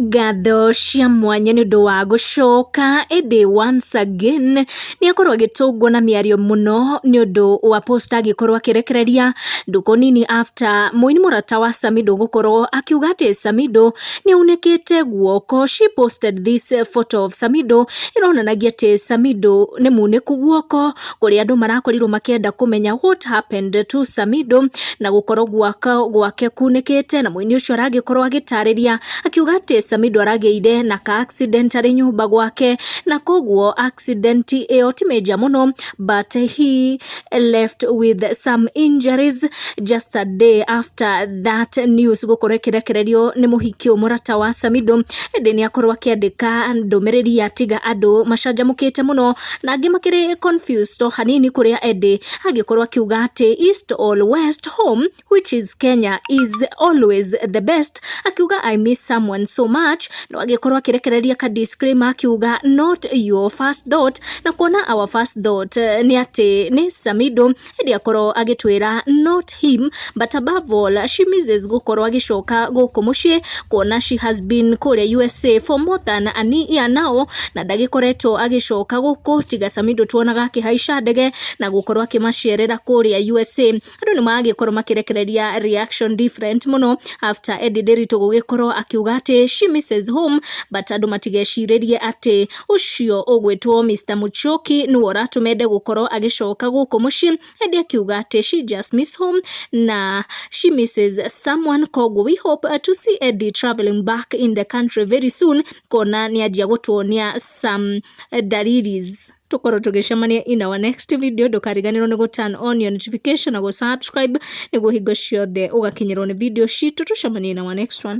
Ngatho cia mwanya nĩ ũndũ wa gũcoka ĩndĩ once again nĩ akorwo agĩtũngwo na mĩario mũno nĩ ũndũ wa post agĩkorwo akĩrekereria ndukũ nini after mũini mũrata wa Samido gũkorwo akiuga atĩ Samido nĩ aunĩkĩte guoko. She posted this photo of Samido ĩronanagia atĩ Samido nĩ munĩku guoko. kũrĩa andũ marakorirwo makĩenda kũmenya what happened to Samido na gũkorwo gwaka gwake kunĩkĩte na mũini ũcio aragĩkorwo agĩtarĩria akiuga atĩ Samido aragĩire na ka accident arĩ nyũmba gwake na koguo accident ĩyo ti major mũno but he left with some injuries just a day after that news gũkorwo ĩkĩrekererio nĩ mũhiki mũrata wa Samido ĩndĩ nĩ akorwo akĩandĩka ndũmĩrĩri ya tiga andũ macanjamũkĩte mũno na angĩ makĩrĩ confused o hanini kũrĩa Eddie angĩkorwo akiuga atĩ east or west home which is Kenya is always the best akiuga I miss someone so much no agĩkorwo akĩrekereria ka disclaimer akiuga not your first thought na kuona our first thought eh, nĩ atĩ nĩ Samido hĩndĩ akorwo agĩtwĩra not him but above all she misses gũkorwo agĩcoka gũkũ mũciĩ kuona she has been kũrĩa USA for more than a year now na ndagĩkoretwo agĩcoka gũkũ tiga Sami ndũtuonaga akĩhaica ndege na gũkorwo akĩmacerera kũrĩa USA andũ nĩ maragĩkorwo makĩrekereria reaction different mũno after Eddie Ndiritu gũgĩkorwo akiuga atĩ she misses home but andũ matigecirĩrie atĩ ũcio ũgwĩtwo Mr Muchoki nĩwe ũratũma ende gũkorwo agĩcoka gũkũ mũciĩ ende akiuga atĩ she just miss home na she misses someone koguo we hope uh, to see Eddie traveling back in the country very soon kona nĩ anjia gũtuonia some uh, dalilis tũkorwo tũgĩcemania in our next video ndũkariganĩrwo nĩ gũturn on your notification na gũsubscribe nĩguo hingo ciothe ũgakinyĩrwo nĩ video citũ tũcemanie in our next one